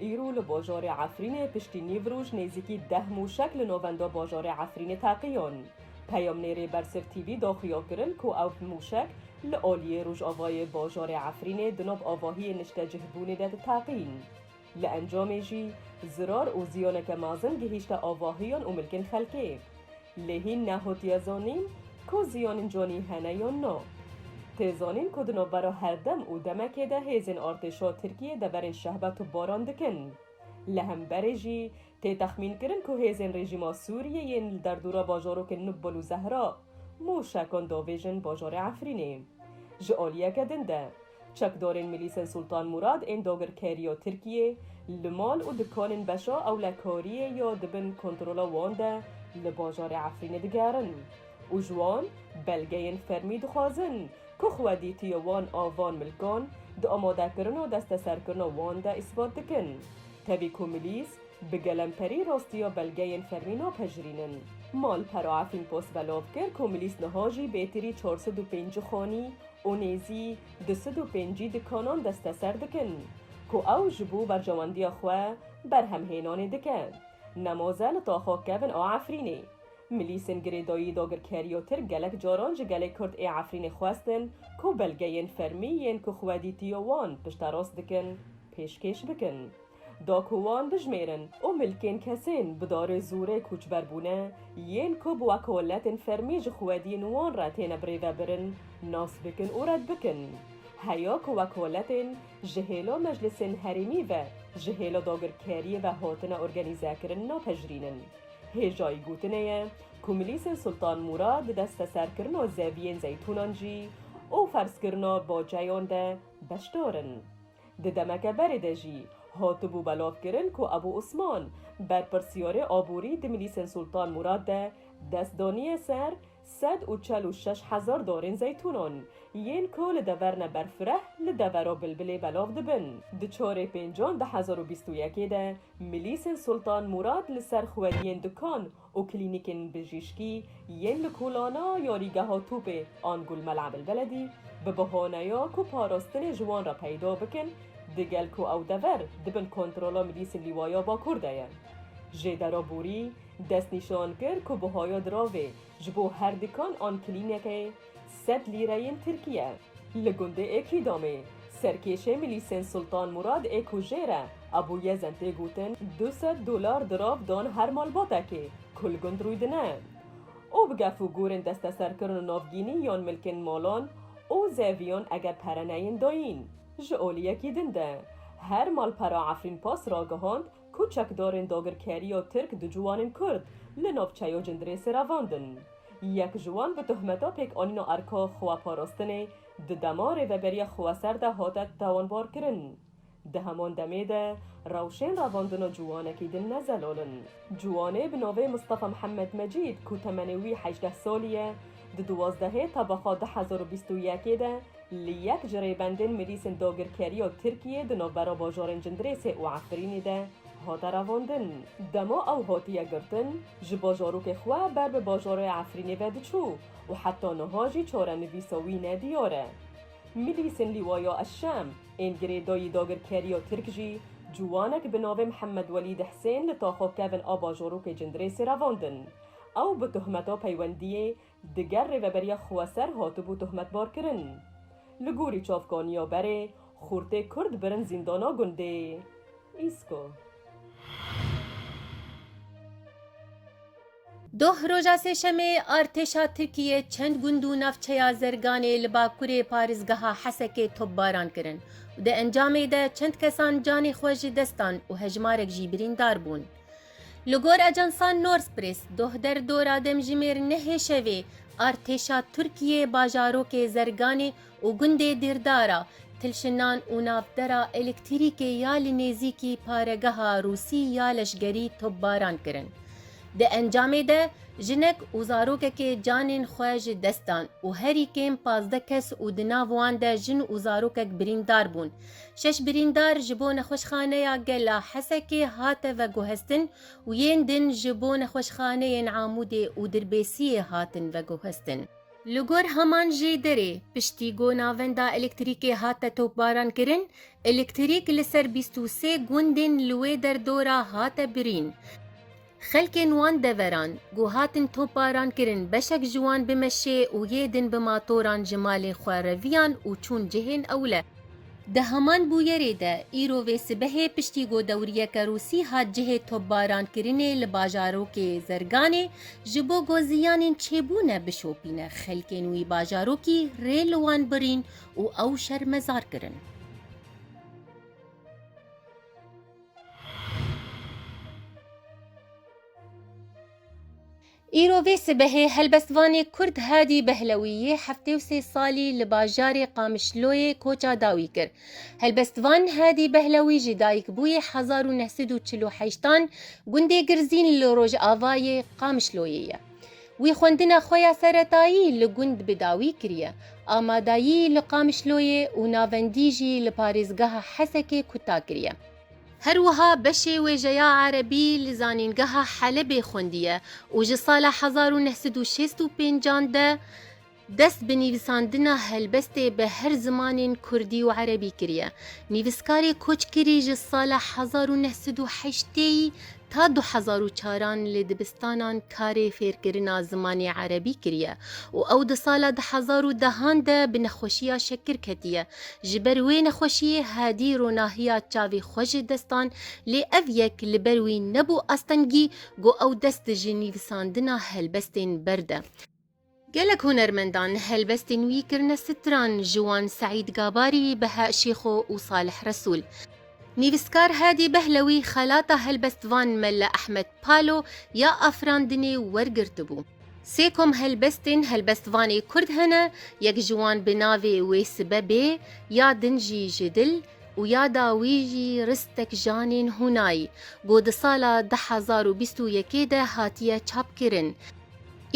Îro li bajorê Efrînê piştî nîv roj nêzîkî deh mûşek li navenda bajorê Efrînê teqiyan. Peyamnêrê Bersif TV da xuya kirin ku ew mûşek li aliyê rojavayê bajarê Efrînê di nav avahiyê niştecihbûnê de diteqîn. Li encamê jî zirar û ziyaneke mezin gihîşte avahiyan û milkên xelkê. Lê hîn nehotiye zonîn ku zîyonên conî hene yon no. Tê zonîn ku di navbera herdem û demekê de hêzên artêşa Tirkiyê deverên şehbet û baran dikin. Li hemberê jî tê texmînkirin ku hêzên rejîma Sûriyê yên li derdora bajarokên Nubul û Zehra mûşekan davêjin bajarê Efrînê. Ji aliyeke din de. Çekdarên Milîsên Sultan Murad ên dagirkerî ya Tirkiyê li mal û dikanên beşa ewlekariyê ya di bin kontrola wan de li bajarê Efrînê digerin û ji wan belgeyên fermî dixwazin ku xwedîtiya wan a van milkan di amadekirina desteserkirina wan de îsbat dikin. Tevî ku milîs bi gelemperî rastiya belgeyên fermî napejirînin. Malpera Efrîn post belav kir ku milîs niha jî bêtirî çar sed û pêncî xanî, û nêzî du sed û pêncî dikanan desteser dikin ku ew ji bo berjewendiya xwe berhemhênanê dike. Nemoze li taxa kevin a Efrînê. Milîsên girêdayî dagirkeriya Tirk gelek caran ji gelê Kurd ê Efrînê xwestin ku belgeyên fermî yên ku xwedîtiya wan pişterast dikin pêşkêş bikin. Da ku wan dijmêrin û milkên kesên bi darê zûrê kûçber bûne, yên ku bi wekoletên fermî ji xwediyên wan re têne birêvebirin, nas bikin û red bikin. Heya ku wekoletên ji hêla meclisên herêmî ve, ji hêla dagirkeriyê ve hatine organîzekirin napejirînin. Hêjayî gotinê ye ku milîsên Sultan Mûrad di desteserkirina zeviyên zeytûnan jî û ferzkirina baceyan de beşdar in. Di demeke berê de jî hatibû belavkirin ku Ebû Osman, berpirsiyarê aborî di milîsên Sultan Mûrad de dest daniye ser sed û çel û şeş hezar darên zeytûnan, yên ku li dever ne Berfireh li devera Bilbilê belav dibin. Di çarê pêncan di hezar û bîst û yekê de milîsên Sultan Mûrad li ser xweriyên Dikan û klînîkên bijîşkî yên li Kulana yarîgeha Tûpê an Gul Mela Belbeledî bi bahaneya ku parastinê ji wan re peyda bikin, digel ku ew dever di bin kontrola Milîsên Lîwaya Bakur de ye. Jêdera Borî destnîşan kir ku buhaya diravê ji bo her dikan an klînekê, Sed lîreyên Tirkiye li gundê Ekîdomê serkêşê milîsên Sultan Murad ê ku jêr e Ebû Yezen tê gotin du sed dolar dirav dan her malbatekê ku li gund rûy dine û bi gef û gûrên desteserkirin û navgînî yan milkên malan û zeviyan eger pere neyên dayîn ji aliyekî din de. Her malpera Efrînpass ragihand Ku çekdarên dagirkeriya Tirk du ciwanên Kurd li navçeyo Cindirê seravandin. Yek ji wan bi tohmeta pêkanîna erka xweparastinê di dema rêveberiya xweser de hate tawanbarkirin. Di heman demê de rewşên revandina ciwanekî din ne zelal in. Ciwanê bi navê Mistefa Mihemed Mecîd ku temenê wî hejdeh salî ye, di duwazdehê Tebexa du hezar û bîst û yekê de, Li yek ji rêbendên milîsên dagirkerî a Tirkiyê di navbera bajarên Cindirêsê û Efrînê de hate revandin. Dema ew hatiye girtin, ji bajarokê xwe ber bi bajarê Efrînê ve diçû û heta niha jî çarenivîsa wî ne diyar e. Milîsên Lîwaya Eşşem ên girêdayî dagirkeriya Tirk jî ciwanek bi navê Mihemed Welîd Hisên li taxa kevin a bajarokê Cindirêsê revandin. Ew bi tohmeta peywendiyê diger Rêveberiya Xweser hatibû tohmetbarkirin. Li gorî çavkaniya berê, xûrtê Kurd birin zîndana gundê Îsko. Doh roja Sêşemê artêşa Tirkiyê çend gund û navçeya Zerganê li bakurê parêzgeha Hesekê topbaran kirin û di encamê de çend kesan canê xwe ji dest dan û hejmarek jî birîndar bûn. Li gor ajansa Northpress, doh der dora demjimêr nehê şevê artêşa Tirkiyê bajarokê Zerganê û gundê Dîrdara, Tilşinan û navbera elektirîkê ya li nêzîkî paregeha Rûsî ya leşgerî topbaran kirin. Di encamê de jinek û zarokekê canên xwe ji dest dan û herî kêm pazdeh kes û di nav wan de jin û zarokek birîndar bûn. Şeş birîndar ji bo Nexweşxaneya Gel a Hesekê hate veguhestin û yên din ji bo nexweşxaneyên Amûdê û Dirbêsiyê hatin veguhestin. Li gor heman jê derê, piştî ku navenda elektrîkê hate topbarankirin, elektrîk li ser bîst û sê gundên li wê derdora hate birîn. Xelkên wan deveran ku hatin toparan kirin beşek ji wan bi meşê û yê din bi matoran ji malên xwe reviyan û çûn cihên ewle. Di heman bûyerê de îro vê sibehê piştî ku dewriyeke Rûsî hat cihê topbaran kirinê li bajarokê Zerganê ji bo ku ziyanên çêbûne bişopîne xelkên wî bajarokî rê li wan birîn û ew şermezar kirin. Îro vê sibehê helbestvanê Kurd Hadî Behlewî yê heftê û sê salî li bajarê Qamişloyê koça dawî kir. Helbestvan Hadî Behlewî ji dayikbûyê hezar û neh sed û çil û heştan gundê Girzîn li Rojavayê Qamişloyê ye. Wî xwendina xwe ya seretayî li gund bi dawî kiriye, amadayî li Qamişloyê û navendî jî li parêzgeha Hesekê kuta kiriye. Her wiha beşê wêjeya erebî li zanîngeha Helebê xwendiye û ji sala hezar û neh sed û şêst û pênc an de Dest bi nivîsandina helbestê bi her zimanên kurdî û erebî kiriye. Nivîskarê koçkirî ji sala hezar û neh sed û heştê yî ta du hezar û çar an li dibistanan karê fêrkirina zimanê erebî kiriye û ew di sala di hezar û dehan de bi nexweşiya şekir ketiye. Ji ber wê nexweşiyê hadî ronahiya çavê xwe ji dest dan lê ev yek li ber wî nebû astengî got ew dest ji nivîsandina helbestên berde. Gelek hunermendan helbestên wî kirine stran ji wan Seîd Gabarî, Beha Şêxo û Salih Resûl. Nivîskar Hadî Behlewî xelata helbestvan Melle Ehmed Palo ya afirandinê wergirtibû. Sê kom helbestên helbestvanê kurd hene, yek ji wan bi navê Wê Sibe Bê ya din jî ji dil û ya dawî jî Ristek Janên Hunay, ku di sala du hezar û bîst û yekê de hatiye çapkirin.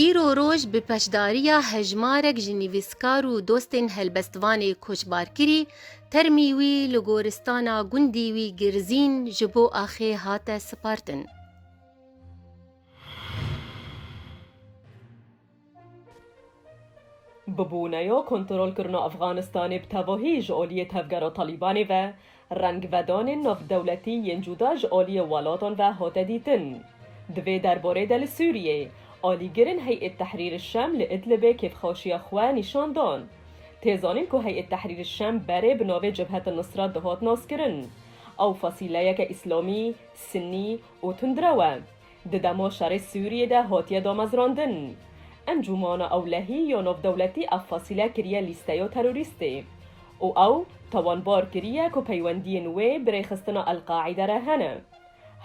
Îro roj bi peşdariya hejmarek ji nivîskar û dostên helbestvanê Koçbarkirî, termî wî li goristana gundî wî Girzîn ji bo axê hate sipartin. Bibûneya kontrolkirina Efxanistanê bi tevahî ji aliyê tevgera Talîbanê ve, Rengvedanên navdewletî yên cuda ji aliyê welatan ve hate dîtin. Di vê derbarê de li Sûriyeyê, alîgirên Hey'et Tehrîr Şam li Idlibê kêfxaşiya xwe nîşan dan. Tê zanîn ku Hey'et Tehrîr Şam berê bi navê Cebhet Nusra dihat naskirin. Ew fasîleyeke îslamî, sinnî û tundrew e. Di dema şerê Sûriyê de hatiye damezrandin. Encûmana Ewlehî ya Navdewletî ev fasîle kiriye lîsteya terorîstê û ew tawanbar kiriye ku peywendiyên wê bi rêxistina El-Qaîde re hene.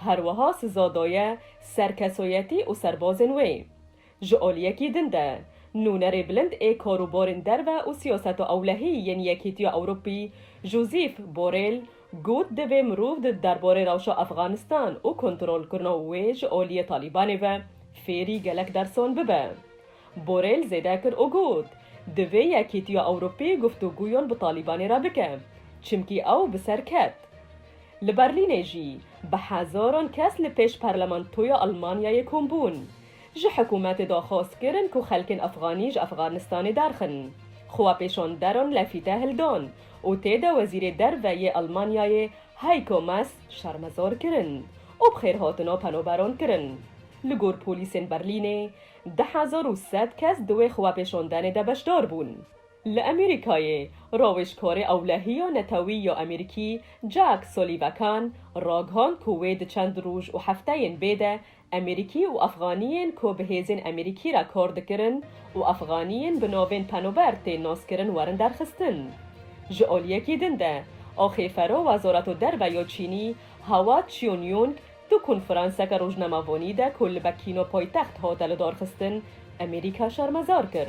Her wiha siza daye ser kesoyetî û serbazên wê. Ji aliyekî din de, nûnerê bilind ê kar û barên derve û siyaseta ewlehî yên Yekîtiya Ewropî Josîf Borêl got divê mirov di derbarê rewşa Efxanistan û kontrolkirina wê ji aliyê Talîbanê ve fêrî gelek dersan bibe. Borêl zêde kir û got, Divê Yekîtiya Ewropî guftûgûyan bi Talîbanê re bike, çimkî ew bi ser ket. Li Berlînê jî bi hezaran kes li pêş Parlamentoya Elmanyayê kom bûn. Ji hikûmetê daxwaz kirin ku xelkên efxanî ji Efxanistanê derxin. Xwepêşan deran lefîte hildan û tê de wezîrê derve yê Elmanyayê Heiko Maas şermezar kirin û bi xêrhatina penoberan kirin. Li gor polîsên Berlînê du hezar û sed kes di wê xwepêşandenê de beşdar bûn. Li Amerîkayê rawêjkarê ewlehiya netewî ya Amerîkî Jack Sullivakan ragihand ku wê di çend roj û hefteyên bê de Emerîkî û Efxaniyên ku bi hêzên Emerîkî re kar dikirin û Efxaniyên bi navên penober tên naskirin werin derxistin. Ji aliyekî din de, axêfero Wezareto Derve ya Çînî Hawa Çionyong di konferanseke rojnamevanî de ku li Bekîno paytext hate lidarxistin Emerîka şermezar kir.